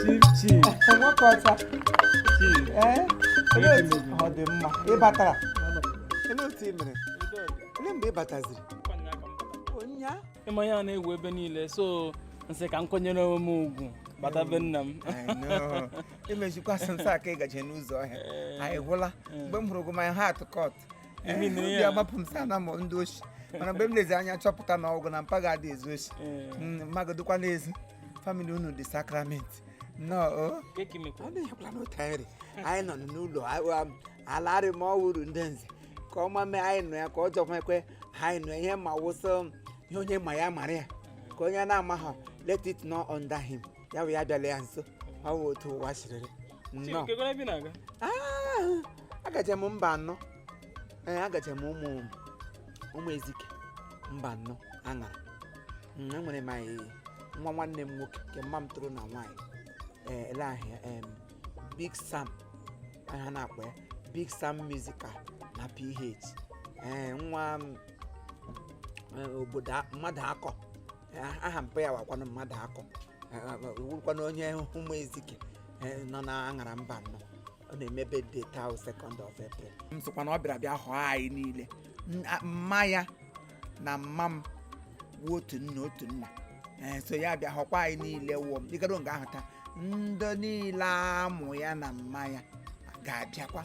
Chief, chief, nwoke ọcha chief. ee olee otu ọ dị mma ị batara olee otu ị mere olee mgbe ị bataziri ụnya ị ma ihe a na-ewu ebe niile so m sị ka m kwanyere onwe m ugwu bata be nna m imejikwa sị nsọ aka ị gaje n'ụzọ ọhịa anyị gwụla mgbe m hụrụ gị my heart cut Imi Eh, nụrụ obi ya. agbapụ m sị ana m ndị oshi mana mgbe m lezi anya chọpụta na ọ wụ gị na mpa gị adị ezu oshi Eh. Mm, mma gị dịkwa n'ezi family unu dị sacrament nnọọ o Kee ka ị mekwa. ọ na-ekwula n'otu anyị rị anyị nọ n'ụlọ aga m alarị ma ọ wụrụ ndị nze ka ọma mee anyị nọ ya ka ọ jọkwa ekwe anyị nọ ihe ma wụ sị m ihe onye ma ya mara ya ka onye na-amaghọ let it know under him ya wee ya bịala ya nso ọ wụ otu ụwa siri rị Nnọọ. Olee ebe ị na-aga? Ah, agaje m Mbanọ ee agaje m ụmụ ụmụ ezike Mbanọ Aṅara Mm, enwere m anyị nwa nwanne m nwoke nke mma m tọrọ na nwaanyị ee ele aha ya em, Big Sam ha na-akpọ ya Big Sam Musical na PH ee nwa m, eh, obodo a- Mmadụakọ Ah, aha mpa ya wụkwanụ Mmadụakọ wụrụkwanụ onye ụmụ ezike eh, nọ na Aṅara Mbanọ ọ na-eme birthday taa second of April m sịkwa na ọ bịara bịa họọ anyị niile N- a- mma ya na mma m wụ otu nne otu nna ee so ya bịa họkwa anyị niile wụọ m dịgado nga ahụ taa ndị niile amụ ya na mma ya ga-abịakwa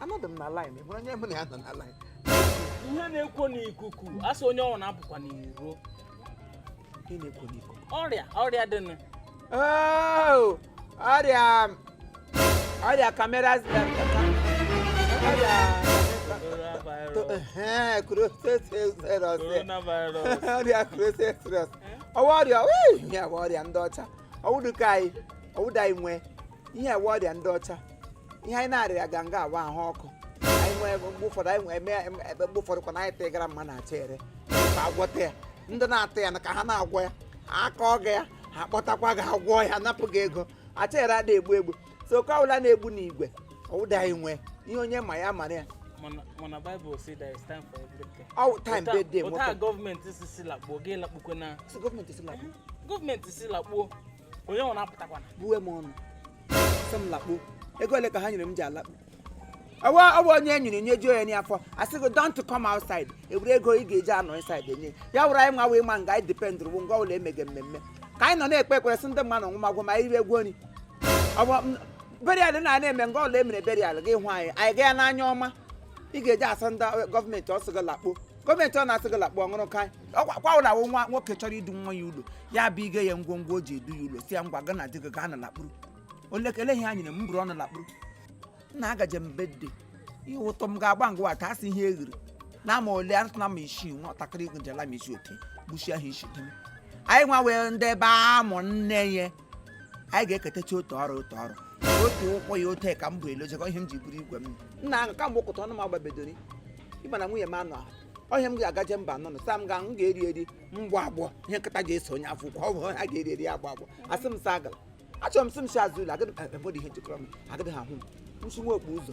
anọdụ m na line ị hụrụ onye mụ na ya nọ na line ihe na-ekwo n'ikuku a sị onye ọwụna apụkwa n'iro ihe na-ekwo n'ikuku ọrịa ọrịa dị nụ Oh, ọrịa ọrịa kamera ọrịa Ehe, coronavirus. coronavirus ọrịa coronavirus. ọ wụ ọrịa wee, ihe a wụ ọrịa ndị ọcha ọ wụdụ nke anyị ọ wụdụ anyị nwe ihe a wụ ọrịa ndị ọcha ihe anyị na-arịaga nga a wụ ahụ ọkụ anyị nwee mgbe ụfọdụ anyị nwee mee em- ịba mgbe ụfọdụ kwa na anyị tagara mmadụ acha ere ka agwọta ya ndị na-ata ya na ka ha na-agwọ ya aka ọ ga ya ha kpọtakwa gị agwọ ya napụ gị ego acha ere adị egbu egbu so nke ọbụla na-egbu n'igwe ọ wụdụ anyị nwe ihe onye ma ya mara ya mana mana Bible say there is time for everything ọ wụ time Ụta- birthday ụta nwoke gọọmenti si si lakpuo gị lakpukwe na si gọọmenti si lakpụ gọọmenti si lakpuo onye ọwụna apụtakwana buwe m ọnụ sị m lakpuo ego ole ka ha nyere m ji alakpu ọ wụ ọ bụ onye e nyere nri juo ya n'afọ a sị gị don't come outside e were ego ị ga-eji anọ inside enye ya wụrụ anyị nwa wee ma nga anyị depend wụ nga ọwụla e mege mmemme ka anyị nọ na-ekpe ekpere sị ndị mmadụ nwụmagwụ ma anyị rie egwu nri ọ bụ m- burial na na-eme nga ọwụla e mere burial gị hụ anyị anyị gaa n'anya ọma ị ga-eji asị ndị gọọmenti sị gị lakpuo gọọmenti ọ na-asị ga lakpuo ọ wụrụ ka kwa ụlọ awụ nwa nwoke chọrọ idu nwa ya ụlọ ya bụ ige ya ngwongwo o ji edu ya ụlọ sị ya ngwa gị na di gị gaanụ lakpuru olekele ihe anyị na m buru ọnụ lakpuru nna agaje m birthday ihe ụtọ m ga-agba ngwa taa sị ihe eghere n'ama ole atụ na ma isi nwatakịrị gụjela ma isi oke gbuchie ha isi dịm anyị nwa wee ndị ebe amụ nne ya anyị ga-eketacha otu ọrụ otu ọrụ otu ụkwụ ya otu ka m bụ elozekọ ihe m ji buru igwe m nna ahụ ka mgbe ụkụta ọnụ m agbabedori ịma na nwunye m anọ ahụ ọhịa m ga-agaje mba nọ sam ga m ga-eri eri m gbọ agbọ ihe nkịta ji eso onye afọ ukwu ọ bụ ha ga-eri eri agbọ agbọ asị m sa agala achọrọ m sị m si azụ ụlọ agadi eh, eh, ihe jikọrọ m agadi ahụ m nsi nwa okpu ụzọ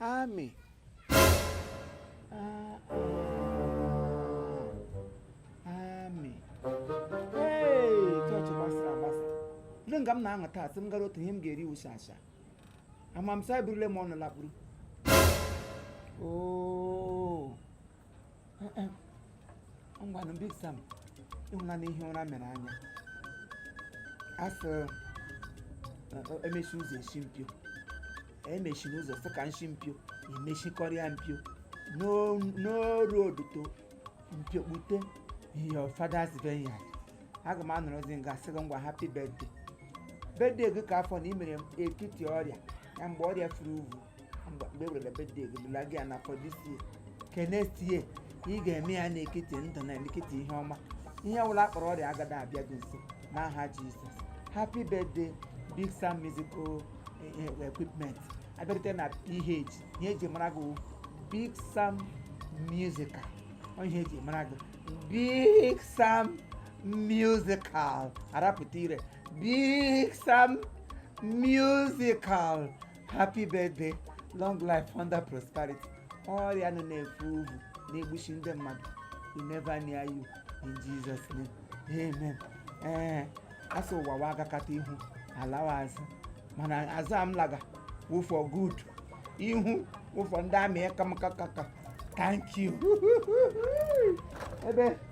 Amị. Amị. Hey, chọọchị gbasara agbasa. Ndị nga m na-aṅụ taa sị m gara otu ihe m ga-eri wusa asa. Ama m sa eburule m ọnụ lakpuru. Oo. ngwanụ big sam ị hụlanụ ihe ụra mere anya asị emechi ụzọ eshi mpio emechinụ ụzọ sị ka nshi mpio emechikọrịa mpio n'oru oduto mpio kpute your father's vineyard aga m anọrọzi nga sị gị ngwa happy birthday birthday gị ke afọ na ị mere ekiti ọrịa na mgbe ọrịa furu uvu mgbe mgbe ewere birthday gị bụla gị ya na for this year ke next year ị ga-eme ya n'ekiti ndụ n'ekiti ihe ọma ihe ọbụla a kpọrọ ọrịa agada abịa gị nso n'aha jizọs happy birthday big sam musical eh, eh, equipment abịarute na ph ihe eji mara gị wụ big sam musical ọ ihe eji mara gị big sam musical arapụta ire big sam musical happy birthday long life and prosperity ọrịa nọ na-efu uvu na-egbuchi ndị mmadụ will never near you in jesus name amen ee asị ụwa wa agakata ihu alawa azụ mana azụ a m laga wụ for good ihu wụ for ndị amị kamkakaka thank you ebe